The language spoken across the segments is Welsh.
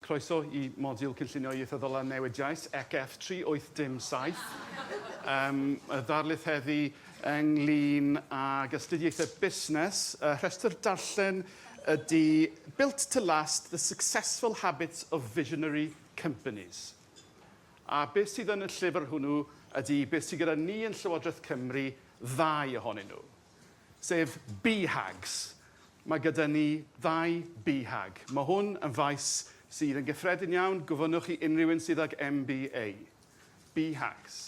Croeso i Modiwl Cynllunio Ieithyddol a Newidiais, ECF 3807. Yym, y ddarlith heddi ynglyn ag astudiaethau busnes, y rhestr darllen ydi Built to Last, The Successful Habits of Visionary Companies. A beth sydd yn y llyfr hwnnw ydi beth sydd gyda ni yn Llywodraeth Cymru, ddau ohonyn nhw. sef BHAGs. Mae gyda ni ddau BHAG. Mae hwn yn faes sydd yn gyffredin iawn, gofynnwch i unrhyw un sydd ag MBA. BHAGs.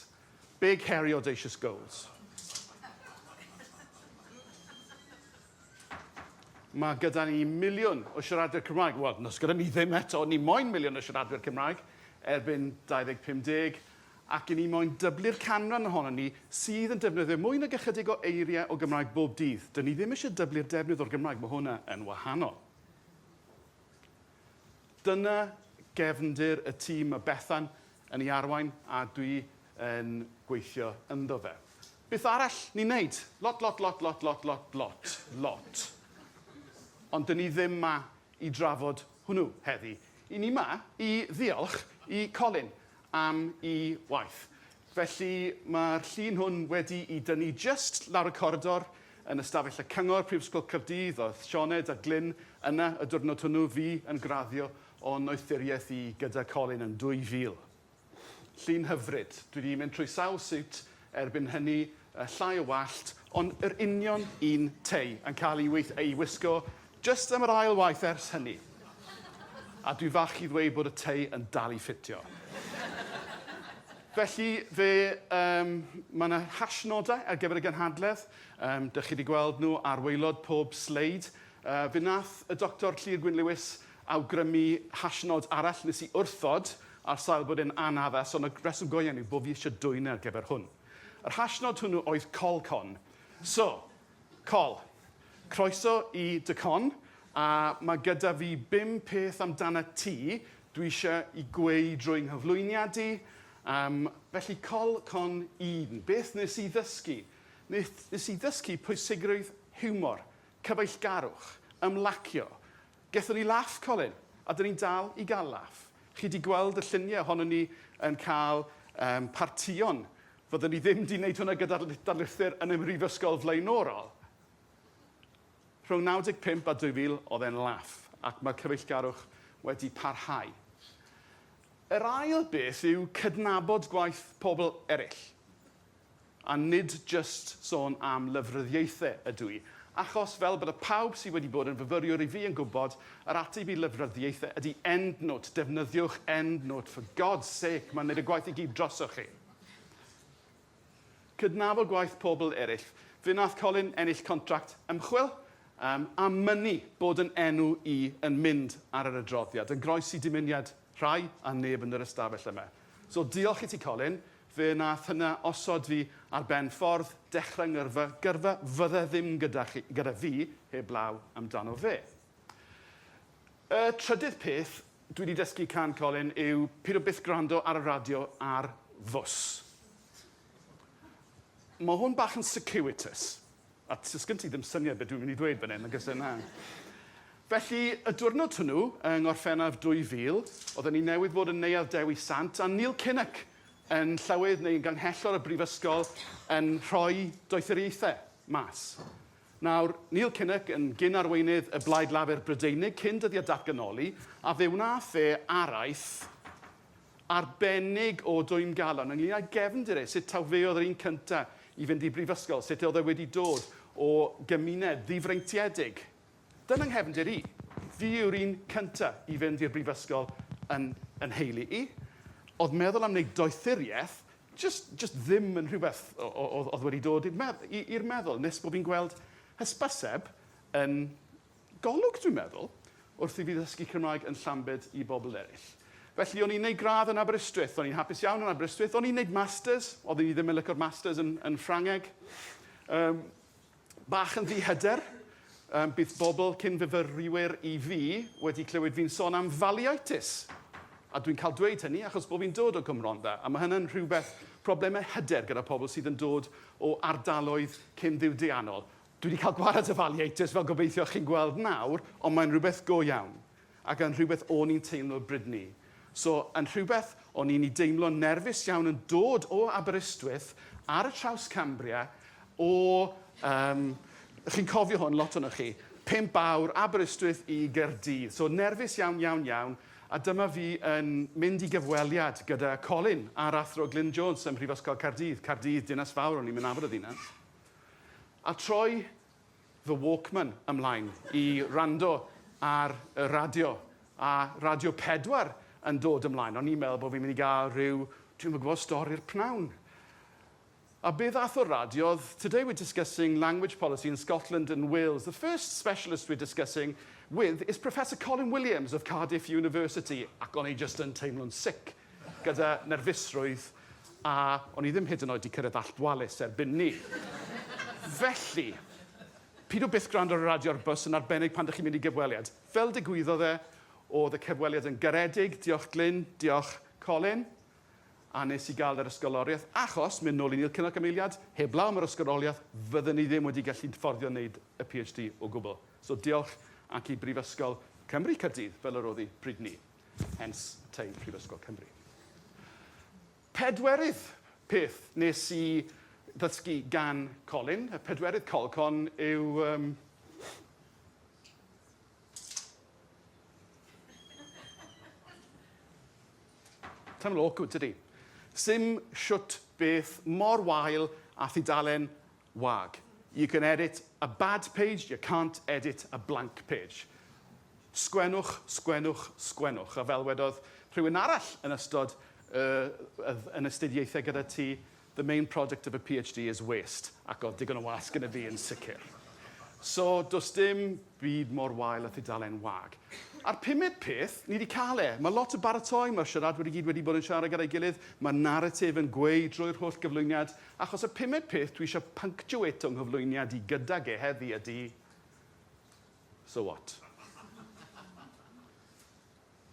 Big Hairy Audacious Goals. Mae gyda ni miliwn o siaradwyr Cymraeg. Wel, nos gyda ni ddim eto, ni moyn miliwn o siaradwyr Cymraeg erbyn 2050, ac i ni moyn dyblu'r canran ohonon ni sydd yn defnyddio mwy nag ychydig o eiriau o Gymraeg bob dydd. Dyn ni ddim eisiau dyblu'r defnydd o'r Gymraeg, mae hwnna yn wahanol. Dyna gefndir y tîm mae Bethan yn ei arwain a dwi yn gweithio ynddo fe. Beth arall ni'n wneud? Lot, lot, lot, lot, lot, lot, lot, lot. Ond dyn ni ddim ma i drafod hwnnw heddi. I ni ma i ddiolch i Colin am i waith. Felly, mae'r llun hwn wedi'i dynnu jyst lawr y coridor yn ystafell y Cyngor, Prifysgol Caerdydd. Oedd Sioned a Glyn yna y diwrnod hwnnw, fi yn graddio o Noethuriaeth i gyda Colin yn 2000. Llun hyfryd. Dwi 'di mynd trwy sawl siwt Erbyn hynny, y llai o wallt, ond yr union un tei, yn cael ei weith- ei wisgo jyst am yr ail waith ers hynny. A dwi fach i ddweud bod y tei yn dal i ffitio. Felly, fe, yym, mae yna hashnodau ar gyfer y gynhadledd. Yym, dych chi wedi gweld nhw ar waelod pob sleid. Yy, fe wnaeth y Doctor Llŷr Gwyn Lewis awgrymu hashnod arall nes i wrthod ar sail bod e'n anaddas ond y rheswm go iawn yw bo fi isio dwyn e ar gyfer hwn. Yr hashnod hwnnw oedd col con. So, col. Croeso i dy con a ma' gyda fi bum peth amdanat ti dwi isio i gweu drwy nghyflwyniad i. Yym, felly col con un. Beth nes i ddysgu? Nes i ddysgu pwysigrwydd hiwmor, cyfeillgarwch, ymlacio, Gethon ni laff Colin, a 'dyn ni'n dal i gael laff. Chi 'di gweld y lluniau ohonon ni yn cael yym partïon. Fyddwn ni ddim 'di wneud hwnna gyda'r darlithwyr yn y mhrifysgol flaenorol. Rhwng 95 a 2000 oedd e'n laff, ac mae'r cyfeillgarwch wedi parhau. Yr ail beth yw cydnabod gwaith pobl eraill. A nid jyst sôn am lyfryddiaethe ydw i, achos, fel bydde pawb sydd wedi bod yn fyfyriwr i fi yn gwybod, yr ateb i lyfryddiaethe ydy EndNote, defnyddiwch EndNote, for God's sake, mae'n wneud y gwaith i gyd drosoch chi. Cydnabod gwaith pobl eraill. Fe wnaeth Colin ennill contract ymchwil, um, a mynnu bod yn enw i yn mynd ar yr adroddiad, yn groes i dymuniad Rhai, a neb yn yr ystafell yma. So, diolch i ti, Colin. Fe wnaeth hynna osod fi ar ben ffordd, dechrau ngyrfa, gyrfa fydde ddim gyda chi, gyda fi, heblaw amdano fe. Y trydydd peth dwi wedi dysgu can Colin yw pido byth gwrando ar y radio ar fws. Mae hwn bach yn circuitous. A t- sgen ti ddim syniad be' dwi'n myn' i dweud fan 'yn nag o's e na. Felly y diwrnod hwnnw yng Ngorffennaf 2000 odden ni newydd fod yn Neuadd Dewi Sant a Neil Kinnock yn Llywydd neu yn Ganghellor y Brifysgol yn rhoi doethuriaethe mas. Nawr, Neil Kinnock yn gyn-arweinydd y Blaid Lafur Brydeinig cyn dyddia' datganoli a fe wnath e araith arbennig o dwym galon ynglŷn â'i gefndir e, sut taw fe oedd yr un cynta' i fynd i brifysgol, sut oedd e wedi dod o gymuned ddifreintiedig. Dyna 'nghefndir i. Fi yw'r un cynta' i fynd i'r brifysgol yn yn nheulu i. O'dd meddwl am wneud doethurieth jyst jyst ddim yn rhywbeth o- o- o'dd o'dd wedi dod i'r medd- i i'r meddwl nes bo' fi'n gweld hysbyseb yn Golwg, dwi'n meddwl, wrth i fi ddysgu Cymraeg yn Llambed i bobl eraill. Felly, o'n i'n wneud gradd yn Aberystwyth, o'n i'n hapus iawn yn Aberystwyth, o'n i'n wneud masters, oedden ni ddim yn licio'r masters yn, yn Ffrangeg. Um, bach yn ddihyder, um, bydd bobl cyn fyfyriwyr i fi wedi clywed fi'n son am faliaetus. A dwi'n cael dweud hynny achos bod fi'n dod o Gymro'n dda, a mae hynny'n rhywbeth problemau hyder gyda pobl sydd yn dod o ardaloedd cyn ddiwydiannol. Dwi 'di cael gwared y Valiators fel gobeithio chi'n gweld nawr ond mae'n rhywbeth go iawn ac yn rhywbeth o'n i'n teimlo Bridney so yn rhywbeth o'n i'n i deimlo'n nerfus iawn yn dod o Aberystwyth ar y traws Cambria o yym chi'n cofio hwn lot ohonoch chi pump awr Aberystwyth i Gaerdydd so nerfus iawn iawn iawn a dyma fi yn mynd i gyfweliad gyda Colin a'r Athro Glyn Jones ym Mhrifysgol Caerdydd, Caerdydd dinas fawr o'n i'm yn nabod y ddinas. A troi fy Walkman ymlaen i wrando ar y radio, a Radio 4 yn dod ymlaen. O'n i'n meddwl bod fi'n mynd i gael rhyw, dwi'm yn gwybod, stori'r pnawn. A be ddath o'r radio oedd, Today we're discussing language policy in Scotland and Wales. The first specialist we're discussing with is Professor Colin Williams of Cardiff University. Ac o'n i jyst yn teimlo'n sick. gyda nerfusrwydd a o'n i ddim hyd yn oed 'di cyrraedd Allt Wallace erbyn 'ny. Felly, pidw byth gwrando ar y radio ar bws yn arbennig pan 'dych chi'n mynd i gyfweliad. Fel digwyddodd e, o'dd y cyfweliad yn garedig, diolch Glyn, diolch Colin, a nes i ga'l yr ysgoloriaeth, achos, mynd nôl i Neil Kinnock am eiliad, heblaw am yr ysgoloriaeth, fydden i ddim wedi gallu fforddio neud y PhD o gwbl. So diolch ac i Brifysgol Cymru Caerdydd, fel yr o'dd 'i bryd 'ny. Hence, tei Prifysgol Cymru. Pedwerydd peth nes i ddysgu gan Colin, y pedwerydd colcon yw... Um, Taml awkward, tydi? Sim siwt beth mor wael a thudalen Wag. You can edit a bad page, you can't edit a blank page. Sgwennwch, sgwennwch, sgwennwch. A fel wedodd rhywun arall yn ystod y y yn astudiaethau gyda ti, the main project of a PhD is waste. Ac oedd digon o wâs gyda fi yn sicr. So, does dim byd mor wael â thudalen wag. A'r pumed peth, ni 'di cael e. Mae lot o baratoi, mae'r siaradwyr i gyd wedi bod yn siarad gyda'i gilydd, mae'r naratif yn gweu drwy'r holl gyflwyniad, Achos y pumed peth dwi isio punctuato 'nghyflwyniad i gydag e heddi ydi, So what?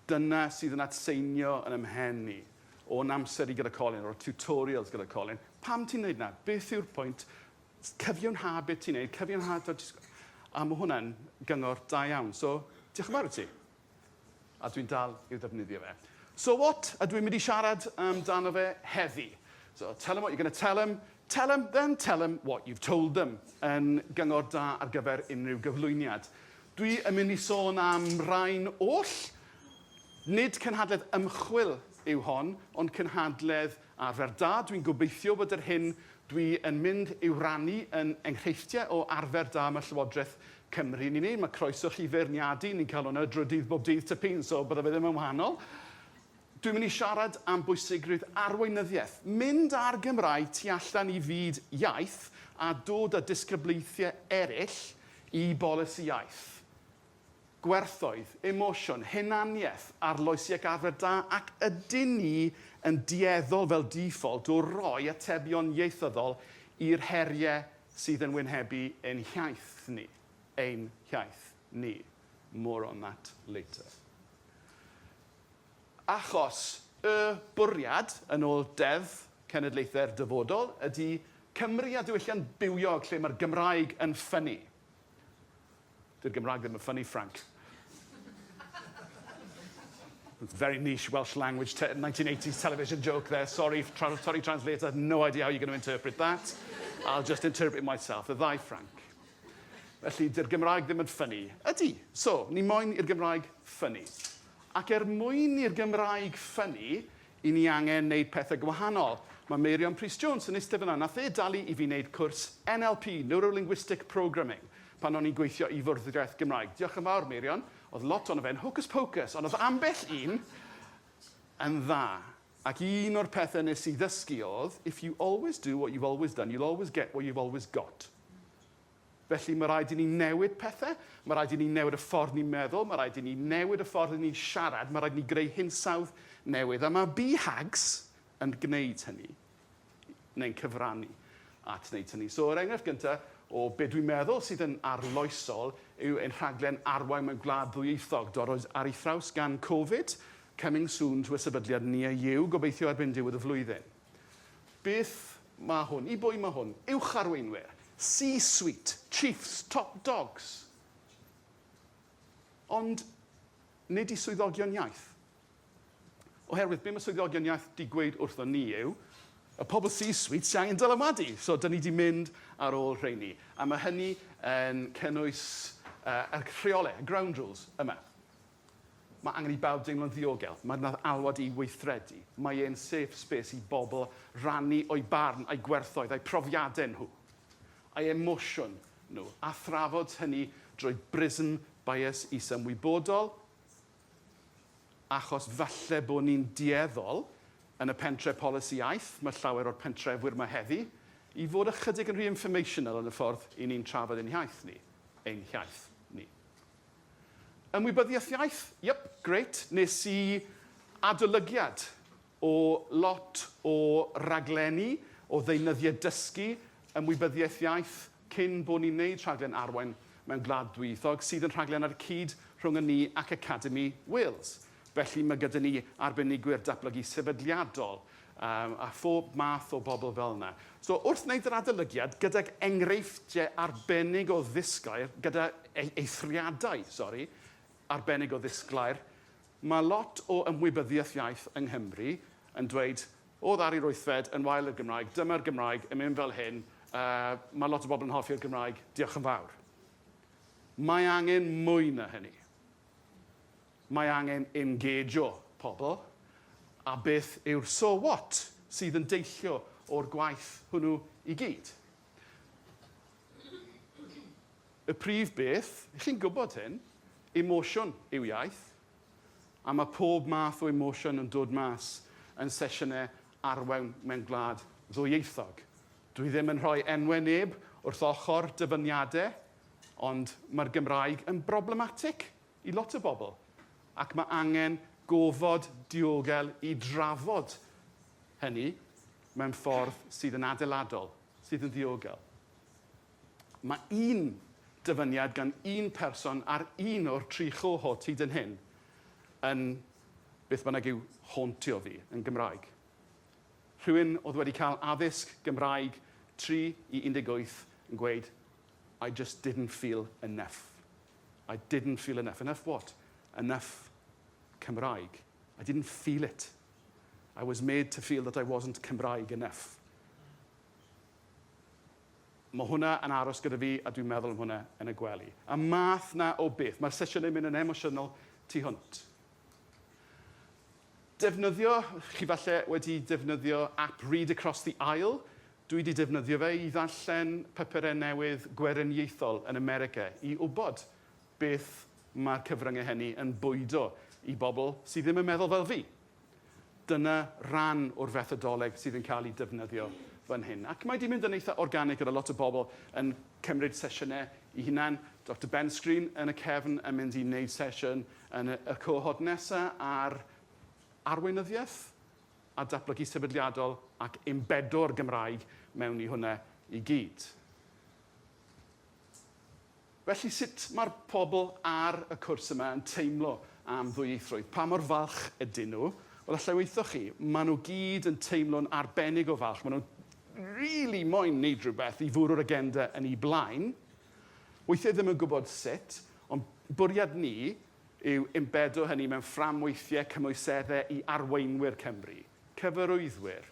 Dyna sydd yn atseinio yn 'y mhen i, o'n amser i gyda Colin, o'r tutorials gyda Colin, pam ti'n neud 'na? Beth yw'r pwynt? Cyfiawnha be' ti'n neud, cyfiawnha t'od jyst... A ma' hwnna'n gyngor da iawn. So, diolch yn fawr i ti. A dwi'n dal i'w ddefnyddio fe. So what ydw i'n mynd i siarad amdano fe heddi? So tell 'em what you're going to tell 'em, tell 'em, then tell 'em what you've told them yn gyngor da ar gyfer unrhyw gyflwyniad. Dwi yn mynd i sôn am rain oll. Nid cynhadledd ymchwil yw hon, ond cynhadledd Arfer da, dwi'n gobeithio bod yr hyn dwi yn mynd i'w rannu yn enghreifftiau o arfer da mae Llywodraeth Cymru yn ei wneud. Mae croeso chi feirniadu, ni'n cael hwnna drwy'r dydd bob dydd tŷ pin, so bydda fe ddim yn wahanol. Dwi'n mynd i siarad am bwysigrwydd arweinyddiaeth, mynd â'r Gymraeg tu allan i fyd iaith a dod â disgyblaethau eraill i bolisi iaith. gwerthoedd, emosiwn, hunaniaeth, arloesiac arfer da ac ydyn ni yn dueddol fel default o roi atebion ieithyddol i'r heriau sydd yn wynebu ein hiaith ni, ein hiaith ni. More on that later. Achos y bwriad, yn ôl Deddf Cenedlaethau'r Dyfodol, ydy Cymru a diwylliant bywiog lle mae'r Gymraeg yn ffynnu. Dy'r Gymraeg ddim yn ffyni, Frank. Very niche Welsh language 1980s television joke there. Sorry, tra sorry translator, no idea how you're going to interpret that. I'll just interpret it myself. Y ddau Frank. Felly, dy'r Gymraeg ddim yn ffynnu. Ydy. So, ni moyn i'r Gymraeg ffynnu. Ac er mwyn i'r Gymraeg ffynnu, I ni angen neud pethe gwahanol. Ma Meirion Prys Jones yn iste fana, nath e dalu i fi neud cwrs NLP, Neuro-Linguistic Programming, pan o'n i'n gweithio i Fwrdeiaeth Gymraeg. Diolch yn fawr Meirion, o'dd lot ono fe'n hocus pocus, ond o'dd ambell un yn dda. Ac un o'r pethe nes i ddysgu o'dd, if you always do what you've always done, you'll always get what you've always got. Felly, mae rhaid i ni newid pethau, mae rhaid i ni newid y ffordd ni'n meddwl, mae rhaid i ni newid y ffordd 'y ni'n siarad, mae rhaid i ni greu hinsawdd newydd, a mae BHAGs yn gwneud hynny, neu'n cyfrannu at wneud hynny. So, yr enghraifft gyntaf o be dwi'n meddwl sydd yn arloesol yw ein rhaglen Arwain Mewn Gwlad Ddwyieithog, dorrwyd ar ei thraws gan Covid, coming soon to a sefydliad near you, gobeithio erbyn diwedd y flwyddyn. Beth ma hwn? I bwy ma hwn? Uwch arweinwyr? C-suite? Chiefs? Top dogs? Ond nid i swyddogion iaith. Oherwydd be ma swyddogion iaith 'di gweud wrthon ni yw, y pobl C-suite sy angen dylanwadu. So 'dyn ni 'di mynd ar ôl rheini. A ma hynny yn cynnwys yr rheole, y ground rules, yma. Mae angen i bawb deimlo'n ddiogel, mae'r nath alwad i weithredu, mae e'n safe space i bobl rannu o'u barn, a'u gwerthoedd, a'u profiadau nhw, a'u emosiwn nhw, a thrafod hynny drwy brism bias is-ymwybodol, achos falle bod ni'n dueddol, yn y pentre polisi iaith, mae llawer o'r pentrefwyr yma heddi, i fod ychydig yn rhy informational yn y ffordd 'y ni'n trafod ein hiaith ni, ein hiaith ni. Ymwybyddiaeth iaith, yep, grêt, nes i adolygiad o lot o raglenni o ddeunyddiau dysgu ymwybyddiaeth iaith cyn bo ni'n neud rhaglen Arwain mewn Gwlad Ddwyieithog sydd yn rhaglen ar y cyd rhwng y ni ac Academi Wales. Felly, mae gyda ni arbenigwyr datblygu sefydliadol um, a phob math o bobl fel yna. So, wrth wneud yr adolygiad, gydag enghreifftiau arbennig o ddisglair, gyda e-, eithriadau, sori, arbennig o ddisglair, mae lot o ymwybyddiaeth iaith yng Nghymru yn dweud, o ddar i'r wythfed, yn wael i'r Gymraeg, dyma'r Gymraeg, yn mynd fel hyn, uh, mae lot o bobl yn hoffi'r Gymraeg, diolch yn fawr. Mae angen mwy na hynny. Mae angen engejio pobl, a beth yw'r so what sydd yn deillio o'r gwaith hwnnw i gyd? Y prif beth, chi'n gwybod hyn, emosiwn yw iaith, a mae pob math o emosiwn yn dod mas yn sesiynau arwain mewn gwlad ddwyieithog. Dwi ddim yn rhoi enwau neb wrth ochr dyfyniadau, ond mae'r Gymraeg yn broblematig i lot o bobl, ac mae angen gofod diogel i drafod hynny mewn ffordd sydd yn adeiladol, sydd yn ddiogel. Mae un dyfyniad gan un person ar un o'r tri chohort hyd yn hyn yn beth bynnag yw hauntio fi yn Gymraeg. Rhywun oedd wedi cael addysg Gymraeg 3 i 18 yn gweud I just didn't feel enough. I didn't feel enough. Enough what? Enough Cymraeg. I didn't feel it. I was made to feel that I wasn't Cymraeg enough. Mae hwnna yn aros gyda fi a dwi'n meddwl am hwnna yn y gwely. Y math na o beth. Mae'r sesiynau yn mynd yn emosiynol tu hwnt. Defnyddio, chi falle wedi defnyddio app Read Across the Aisle, Dw i 'di defnyddio fe i ddarllen papurau newydd gweriniaethol yn America i wybod beth mae'r cyfryngau hynny yn bwydo i bobl sydd ddim yn meddwl fel fi. Dyna ran o'r fethodoleg sydd yn cael ei defnyddio fan hyn. Ac mae 'di mynd yn eitha organig gyda lot o bobl yn cymryd sesiynau i hunan. Doctor Ben Screen yn y cefn yn mynd i wneud sesiwn yn y cohort nesaf ar arweinyddiaeth a datblygu sefydliadol ac ymbedo'r Gymraeg mewn i hwnna i gyd. Felly, sut mae'r pobl ar y cwrs yma yn teimlo am ddwyieithrwydd? Pa mor falch ydyn nhw? Wel, allai waethoch chi, maen nhw gyd yn teimlo'n arbennig o falch, maen nhw'n rili moyn neud rhywbeth i fwrw'r agenda yn eu blaen, weithiau ddim yn gwybod sut, ond bwriad ni yw ymbedo hynny mewn fframweithiau cymwyseddau i arweinwyr Cymru, cyfarwyddwyr,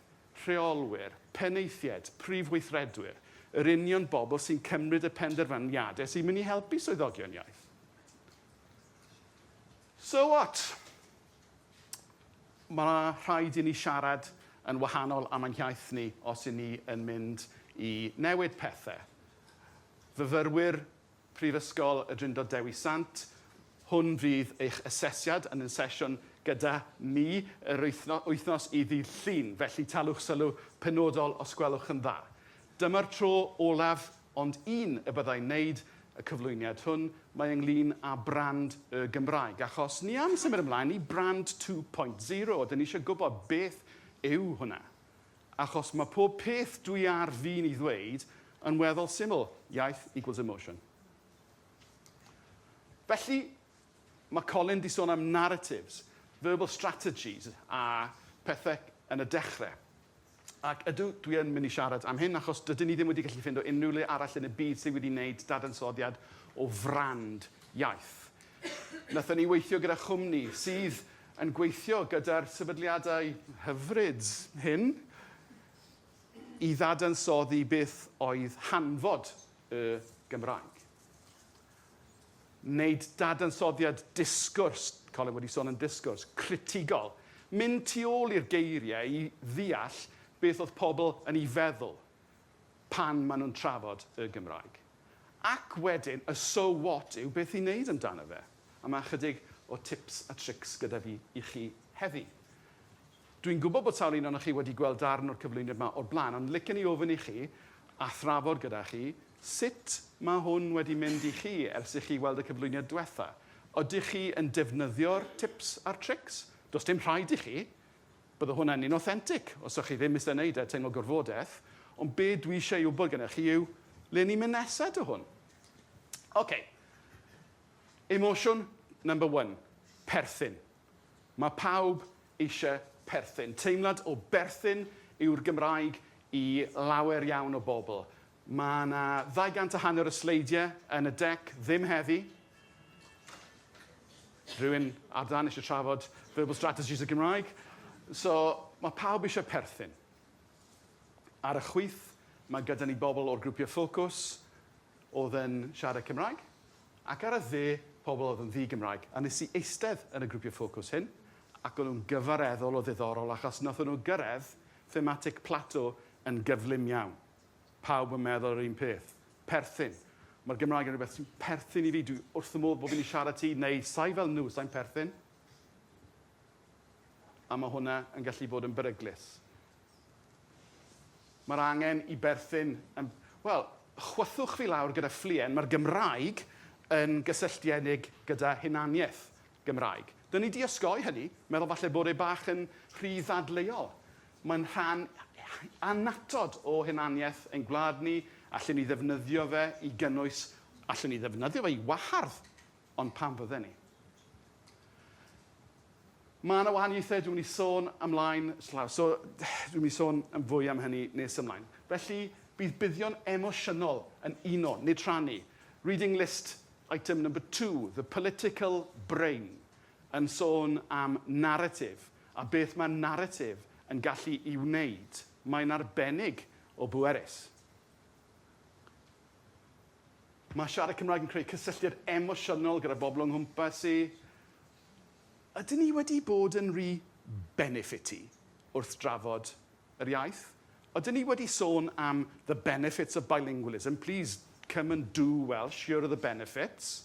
rheolwyr, penaethiaid, prif weithredwyr, yr union bobl sy'n cymryd y penderfyniadau sy'n mynd i helpu swyddogion iaith. So what? Mae rhaid i ni siarad yn wahanol am ein hiaith ni os y'n ni yn mynd i newid pethau. Fyfyrwyr Prifysgol y Drindod Dewi Sant. Hwn fydd eich asesiad yn yn sesiwn gyda mi yr wythnos i ddydd Llun, felly talwch sylw penodol os gwelwch yn dda. Dyma'r tro olaf ond un y byddai'n wneud y cyflwyniad hwn, mae ynglŷn â brand y Gymraeg, achos ni am symud ymlaen i brand 2.0, dyn ni eisiau gwybod beth yw hwnna. Achos mae pob peth dwi ar fin i ddweud yn weddol syml, iaith equals emotion. Felly, mae Colin di sôn am narratives, verbal strategies a pethau yn y dechrau. Ac ydw, dwi yn mynd i siarad am hyn achos dydyn ni ddim wedi gallu ffindo unrhyw le arall yn y byd sydd wedi wneud dadansoddiad o frand iaith. Wnaethon ni weithio gyda chwmni sydd yn gweithio gyda'r sefydliadau hyfryd hyn i ddadansoddi beth oedd hanfod y Gymraeg. Wneud dadansoddiad disgwrs, Colin wedi sôn yn disgwrs, critigol. Mynd tu ôl i'r geiriau i ddeall beth oedd pobl yn ei feddwl pan maen nhw'n trafod y Gymraeg. Ac wedyn, y so what yw beth i wneud amdano fe. A mae ychydig o tips a trics gyda fi i chi heddi. Dwi'n gwybod bod sawl un ohonoch chi wedi gweld darn o'r cyflwyniad yma o'r blaen, ond licen i ofyn i chi, a thrafod gyda chi, sut mae hwn wedi mynd i chi ers i chi weld y cyflwyniad diwetha? Ydych chi yn defnyddio'r tips a'r trics? Does dim rhaid i chi, Bydde hwnna'n inauthentic os o'ch chi ddim isie neud e, teimlo gorfodaeth. Ond be dwi isie ei wbod gennych chi yw, le ni'n mynd nesa 'da hwn? Ok. Emosiwn number one. Perthyn. Mae pawb isie perthyn. Teimlad o berthyn yw'r Gymraeg i lawer iawn o bobl. Mae 'na ddau gant a hanner o sleidiau yn y dec ddim heddi. Rhywun ar dân eisiau trafod verbal strategies y Gymraeg. So, mae pawb eisiau perthyn. Ar y chwith, mae gyda ni bobl o'r grwpiau ffocws oedd yn siarad Cymraeg, ac ar y dde, pobl oedd yn ddi-Gymraeg. A nes i eistedd yn y grwpiau ffocws hyn, ac o'n nhw'n gyfareddol o ddiddorol achos wnaethon nhw gyrraedd thematic plateau yn gyflym iawn. Pawb yn meddwl yr un peth. Perthyn. Mae'r Gymraeg yn rhywbeth sy'n perthyn i fi. Dwi wrth fy modd bod fi'n i siarad ti, neu sai fel nhw, sai'n perthyn. A mae hwnna yn gallu bod yn beryglus. Mae'r angen i berthyn yn... Wel, chwythwch fi lawr gyda ffluen, mae'r Gymraeg yn gysylltiedig gyda hunaniaeth Gymraeg. Dyn ni di osgoi hynny, meddwl falle bod e bach yn rhy ddadleuol. Mae'n rhan annatod o hunaniaeth ein gwlad ni, allen ni ddefnyddio fe i gynnwys, allen ni ddefnyddio fe i wahardd, ond pam fydden ni? Mae yna wahaniaethau, dwi'n mynd i sôn ymlaen, so dwi'n mynd i sôn yn fwy am hynny nes ymlaen. Felly, bydd buddion emosiynol yn uno, nid rhannu. Reading list item number two, the political brain, yn sôn am naratif, a beth mae naratif yn gallu ei wneud, mae'n arbennig o bwerus. Mae siarad Cymraeg yn creu cysylltiad emosiynol gyda bobl o'n nghwmpas i. Ydyn ni wedi bod yn rhy benefiti wrth drafod yr iaith? Ydyn ni wedi sôn am the benefits of bilingualism? Please come and do Welsh, here are the benefits.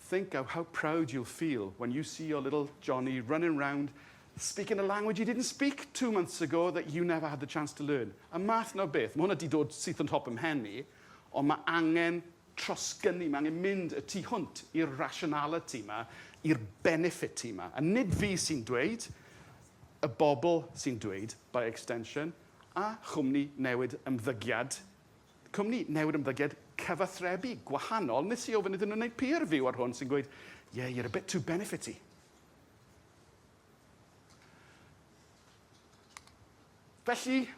Think of how proud you'll feel when you see your little Johnny running round speaking a language he didn't speak two months ago that you never had the chance to learn. Y math 'na o beth. Mae hwnna 'di dod syth yn top 'y mhen i, ond mae angen trosgynnu, mae angen mynd y tu hwnt i'r rationality 'ma, i'r benefiti 'ma. A nid fi sy'n dweud, y bobl sy'n dweud, by extension, a chwmni newid ymddygiad Cwmni newydd ymddygiad cyfathrebu gwahanol, nes i ofyn iddyn nhw wneud peer review ar hwn sy'n gweud yeah you're a bit too benefity. Felly,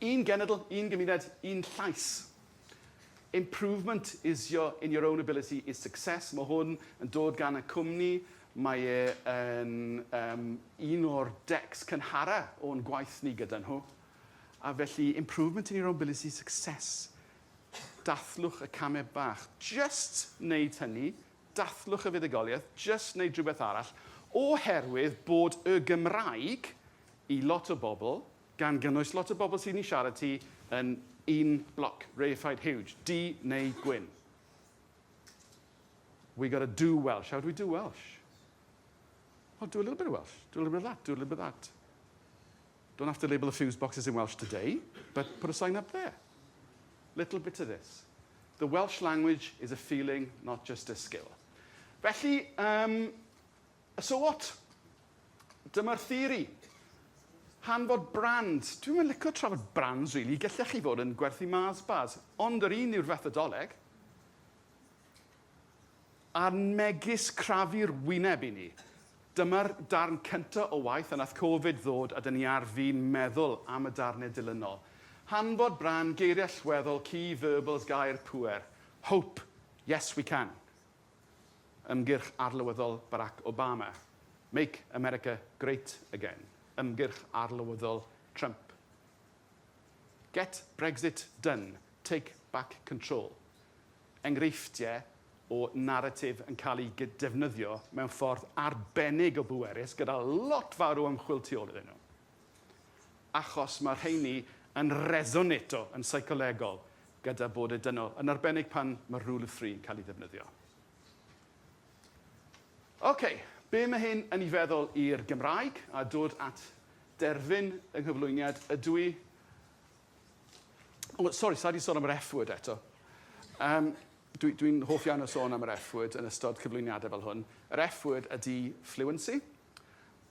un genedl, un gymuned, un llais. Improvement is your, in your own ability is success. Mae hwn yn dod gan y cwmni. Mae e yn um, un o'r decs cynhara o'n gwaith ni gyda nhw. A felly, improvement in your own ability, success. Dathlwch y camau bach. Jyst wneud hynny, dathlwch y fuddugoliaeth, jyst wneud rhywbeth arall, oherwydd bod y Gymraeg, i lot o bobl, gan gynnwys lot o bobl sydd yn siarad ti, yn un bloc, reified, huge, du neu gwyn. We got to do Welsh. How do we do Welsh? Well, do a little bit of Welsh, do a little bit of that, do a little bit of that. Don't have to label the fuse boxes in Welsh today, but put a sign up there. Little bit of this. The Welsh language is a feeling, not just a skill. Felly, um, so what? Dyma'r theori. Hanfod brand. Dwi'n mynd licio trafod brands, really. Gellech chi fod yn gwerthu Mars bars, ond yr un yw'r fethodoleg. A'r megis crafu'r wyneb i ni. Dyma'r darn cynta' o waith a nath Covid ddod a 'dyn ni ar fin meddwl am y darne dilynol. Hanfod brân, geirie allweddol, key verbals, gair pŵer. Hope, yes we can. Ymgyrch arlywyddol Barack Obama. Make America great again. Ymgyrch arlywyddol Trump. Get Brexit done, take back control. enghreifftiau o naratif yn cael eu defnyddio mewn ffordd arbennig o bwerus gyda lot fawr o ymchwil tu ôl iddyn nhw, achos mae'r rheiny yn resoneto yn seicolegol gyda bod y dynol, yn arbennig pan mae'r rule of three yn cael ei ddefnyddio. Ok, be mae hyn yn ei feddwl i'r Gymraeg? A dod at derfyn yng nghyflwyniad, ydw i Oh, sorry, sa di sôn am yr F-word eto. Um, Dwi'n dwi, hoff iawn o sôn am yr F-word yn ystod cyflwyniadau fel hwn. Yr F-word ydy fluency.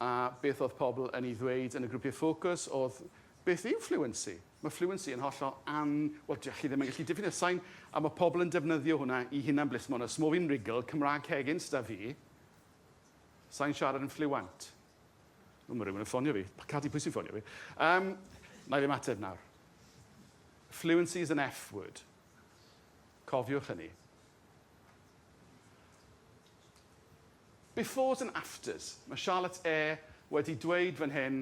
A beth oedd pobl yn ei ddweud yn y grwpiau ffocws oedd, beth yw fluency? Mae fluency yn hollol an... Wel, dych chi ddim yn gallu diffinio sain, a mae pobl yn defnyddio hwnna i hunan blismon. Os mo fi'n rigl, Cymraeg Hegins da fi, sain siarad yn fluent. O, mae rhywun yn ffonio fi. Cadi, pwy sy'n ffonio fi? Um, na i ddim ateb nawr. Fluency is an F word. Cofiwch hynny. Befores and afters. Mae Charlotte E wedi dweud fan hyn,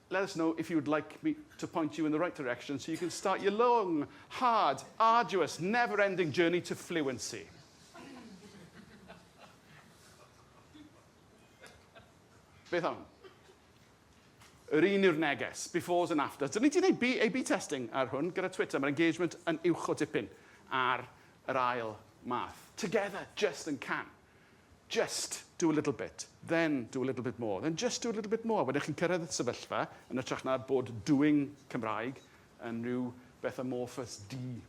Let us know if you would like me to point you in the right direction so you can start your long, hard, arduous, never-ending journey to fluency. Beth am? Yr un yw'r neges, befores and afters. Dyn ni wedi gwneud A-B testing ar hwn gyda Twitter. Mae'r engagement yn uwch o dipyn ar yr ail math. Together, just and can. Just do a little bit, then do a little bit more, then just do a little bit more. Wedyn chi'n cyrraedd y sefyllfa, yn ytrach na bod doing Cymraeg yn rhyw beth amorphous di.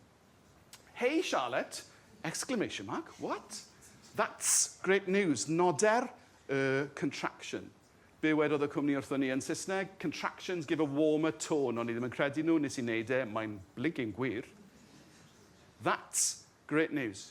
Hey Charlotte! Exclamation mark, what? That's great news! Noder y contraction. Be wedodd y cwmni wrthon ni yn Saesneg? Contractions give a warmer tone. O'n i ddim yn credu nhw, nes i wneud e, mae'n blinking gwir. That's great news.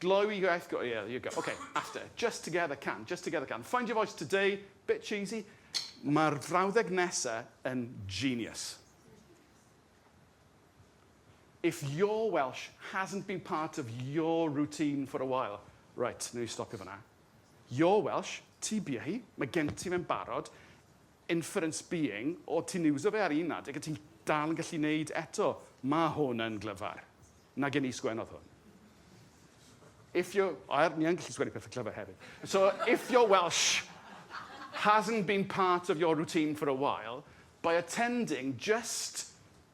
Gloyw i iaith go iaith you go. Oce, Aster. Just together can, just together can. Find your voice today, bit cheesy. Mae'r frawddeg nesa yn genius. If your Welsh hasn't been part of your routine for a while. Right, newn ni stopio fanna. Your Welsh, ti bia hi, mae gen ti fe'n barod. inference being, o ti'n iwso fe ar un adeg a ti'n dal yn gallu neud eto, ma hwn yn glyfar. Na gen i sgwennodd hwn. If your, o er, ni yn gallu sgwennu pethau clyfar hefyd. So, if your Welsh hasn't been part of your routine for a while, by attending just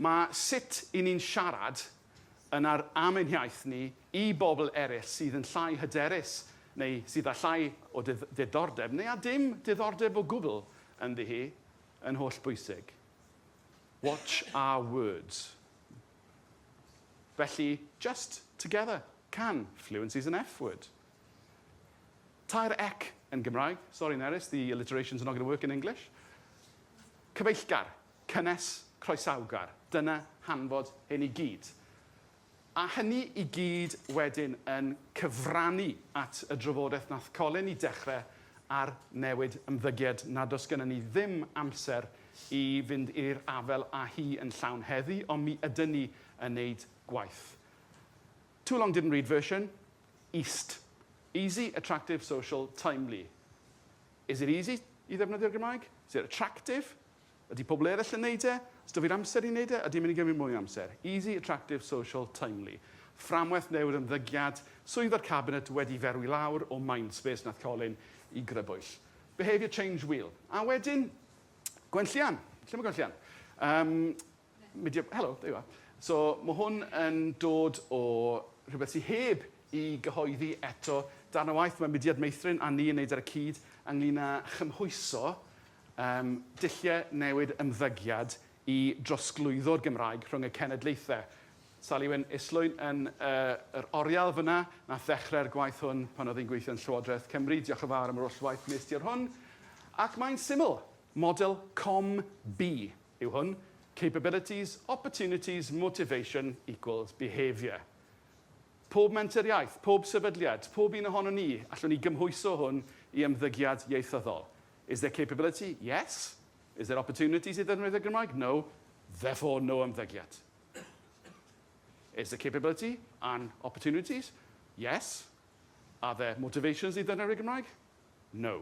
Mae sut i ni'n siarad yn ar am ein hiaith ni i bobl eraill sydd yn llai hyderus neu sydd â llai o ddiddordeb neu â dim diddordeb o gwbl ynddi hi yn holl bwysig. Watch our words. Felly, just together, can, fluency's an F word. Tair ec yn Gymraeg. Sorry Nerys, the alliterations are not going to work in English. Cyfeillgar, Cynnes, croesawgar, dyna hanfod hyn i gyd. A hynny i gyd wedyn yn cyfrannu at y drafodaeth nath Colin i dechre ar newid ymddygiad nad o's gynnon ni ddim amser i fynd i'r afel a hi yn llawn heddi ond mi ydyn ni yn neud gwaith. Too long didn't read version, east. Easy, attractive, social, timely. Is it easy i ddefnyddio'r Gymraeg? Is it attractive? Ydy pobl eraill yn neud e? Os da fi'r amser i neud e, ydy e'n mynd i gymryd mwy o amser? Easy, attractive, social, timely. Fframwaith newydd ymddygiad, swydd o'r cabinet wedi ferwi lawr o mindspace nath colin i grybwyll. Behaviour change wheel. A wedyn, gwenllian. Lle mae gwenllian? Yym. Media, helo, there you are. So mae hwn yn dod o rhywbeth sydd heb i gyhoeddi eto. Darn o waith mae Mudiad Meithrin a ni yn wneud ar y cyd ynglyn â chymhwyso um, dulliau newid ymddygiad i drosglwyddo'r Gymraeg rhwng y cenedlaethau. Sally Wyn Islwyn yn uh, yr oriel fyna, nath ddechrau'r gwaith hwn pan oedd hi'n gweithio yn Llywodraeth Cymru. Diolch yn fawr am yr oll waith nes ti ar hwn. Ac mae'n syml, model COM-B. yw hwn, capabilities, opportunities, motivation equals behaviour. Pob menter iaith, pob sefydliad, pob un ohonon ni, allwn ni gymhwyso hwn i ymddygiad ieithyddol. Is there capability? Yes. Is there opportunities i ddefnyddio y Gymraeg? No. Therefore, no ymddygiad. Is there capability and opportunities? Yes. Are there motivations i ddefnyddio'r Gymraeg? No.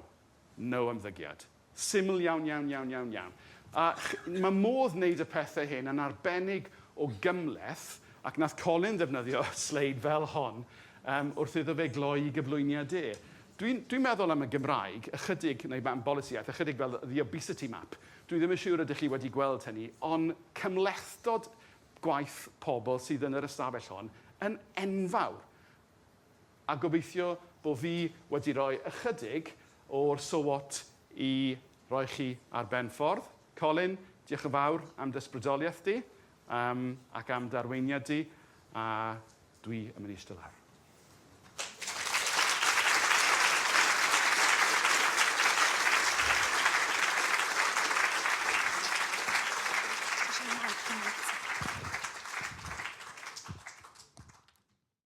No ymddygiad. Syml iawn, iawn, iawn, iawn, iawn. A ch- mae modd wneud y pethau hyn yn arbennig o gymhleth, ac nath Colin ddefnyddio sleid fel hon um, wrth iddo fe gloi i gyflwyniad e. Dwi'n dwi meddwl am y Gymraeg, ychydig, neu am bolisiaeth, ychydig fel the obesity map. Dwi ddim yn siŵr ydych chi wedi gweld hynny, ond cymhlethdod gwaith pobl sydd yn yr ystafell hon yn enfawr. A gobeithio bo fi wedi rhoi ychydig o'r sowot i roi chi ar ben ffordd. Colin, diolch yn fawr am d'ysbrydoliaeth di um, ac am d'arweiniad di, a dwi yn mynd i eistedd lawr.